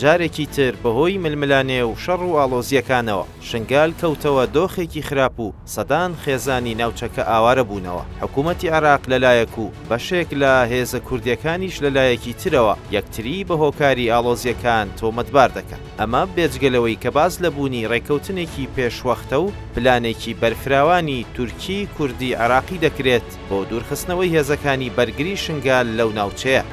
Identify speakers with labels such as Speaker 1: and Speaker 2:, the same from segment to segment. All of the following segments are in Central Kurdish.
Speaker 1: جارێکی تر بەهۆی ململانێ و شەڕ و ئاڵۆزییەکانەوە شنگال کەوتەوە دۆخێکی خراپ و سەدان خێزانی ناوچەکە ئاوارە بوونەوە، حکوومەتی عێراق لە لایەک و بەشێک لە هێزە کوردییەکانیش لە لایەکی ترەوە یەکتری بە هۆکاری ئاڵۆزییەکان تۆمەتبار دەکەن، ئەمە بێجگە لەوەی کە باس لە بوونی ڕێککەوتنێکی پێشوەختە و پلانێکی بەرفراوانی تورکی، کوردی، عێراقی دەکرێت بۆ دوورخستنەوەی هێزەکانی بەرگری شنگال لەو ناوچەیە.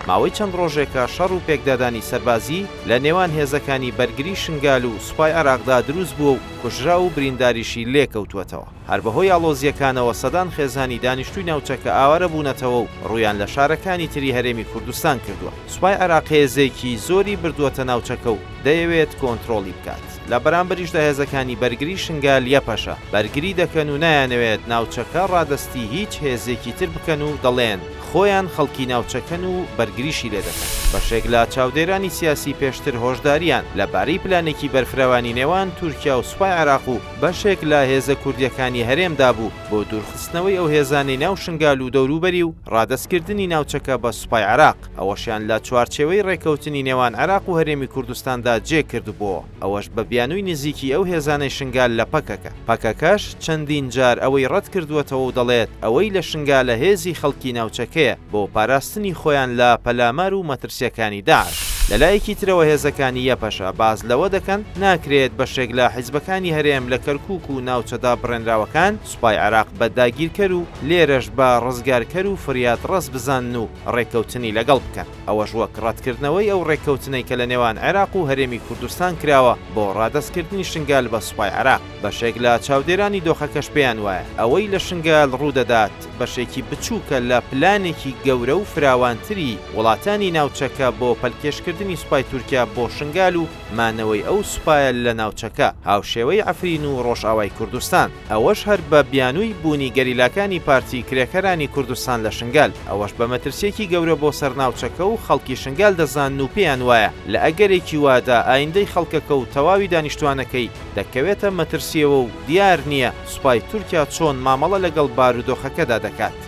Speaker 1: ماوەی چەند ڕۆژێکە شەڕ و پێکدادانی سەربازی لە نێوان هێزەکانی بەرگری شنگال و سوپای عێراقدا دروست بووە و کوژراو و برینداریشی لێکەوتووەتەوە، هەر بەهۆی ئاڵۆزییەکانەوە سەدان خێزانی دانیشتووی ناوچەکە ئاوارە بوونەتەوە و ڕوویان لە شارەکانی تری هەرێمی کوردستان کردووە، سوپای عێراق هێزێکی زۆری بردووەتە ناوچەکە و دەیەوێت کۆنترۆڵی بکات. لە بەرامبەریشدا هێزەکانی بەرگری شنگال، یەپەشە، بەرگری دەکەن و نایانەوێت ناوچەکە ڕادەستی هیچ هێزێکی تر بکەن و دەڵێن، خۆیان خەڵکی ناوچەکەن و بەرگریشی لێ دەکەن. بەشێک لە چاودێرانی سیاسی پێشتر هۆشدارییان لەبارەی پلانێکی بەرفرەوانی نێوان تورکیا و سوپای عێراق و بەشێک لە هێزە کوردییەکانی هەرێم دابوو بۆ دوورخستنەوەی ئەو هێزانەی ناو شنگال و دەوروبەری و ڕادەستکردنی ناوچەکە بە سوپای عێراق. ئەوەشیان لە چوارچێوەی ڕێکەوتنی نێوان عێراق و هەرێمی کوردستاندا جێ کردبۆوە، ئەوەش بە بیانووی نزیکی ئەو هێزانەی شنگال لە پەکەکە. پەکەکەش چەندین جار ئەوەی ڕەت کردووەتەوە و دەڵێت ئەوەی لە شنگالە هێزی خەڵکی ناوچەکەیە بۆ پاراستنی خۆیان لە پەلامار و مەترسییەکانی داعش. لە لایەکی ترەوە هێزەکانی یەپەشە باس لەوە دەکەن، ناکرێت بەشێک لە حیزبەکانی هەرێم لە کەرکووک و ناوچە دابڕێنراوەکان، سوپای عێراق بە داگیرکەر و لێرەش بە ڕزگارکەر و فریادڕەس بزانن و ڕێککەوتنی لەگەڵ بکەن، ئەوەش وەک ڕەتکردنەوەی ئەو ڕێککەوتنەی کە لە نێوان عێراق و هەرێمی کوردستان کراوە بۆ ڕادەستکردنی شنگال بە سوپای عێراق، بەشێک لە چاودێرانی دۆخەکەش پێیان وایە ئەوەی لە شنگال ڕوودەدات بەشێکی بچووکە لە پلانێکی گەورە و فراوانتری وڵاتانی ناوچەکە بۆ پەلکێشکردنی سوپای تورکیا بۆ شنگال و مانەوەی ئەو سوپایە لە ناوچەکە، هاوشێوەی عەفرین و ڕۆژئاوای کوردستان، ئەوەش هەر بە بیانووی بوونی گەریلاکانی پارتی کرێکەرانی کوردستان لە شنگال، ئەوەش بە مەترسییەکی گەورە بۆ سەر ناوچەکە و خەڵکی شنگال دەزانن و پێیان وایە لە ئەگەرێکی وادا ئایندەی خەڵکەکە و تەواوی دانیشتووانەکەی دەکەوێتە مەترسییەوە و دیار نییە سوپای تورکیا چۆن مامەڵە لەگەڵ بارودۆخەکەدا دەکات.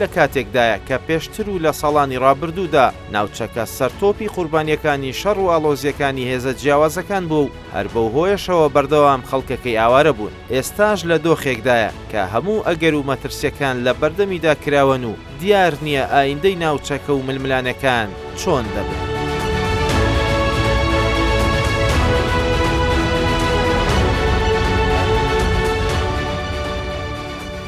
Speaker 1: لە کاتێکدایە کە پێشتر و لە ساڵانی ڕابردوودا ناوچەکە سەرتۆپی قوربانییەکانی شەڕ و ئاڵۆزییەکانی هێزە جیاوازەکان بووە و هەر بەو هۆیەشەوە بەردەوام خەڵکەکەی ئاوارە بوون، ئێستاش لە دۆخێکدایە کە هەموو ئەگەر و مەترسییەکان لە بەردەمیدا کراوەن و دیار نییە ئایندەی ناوچەکە و ململانێکان چۆن دەبن.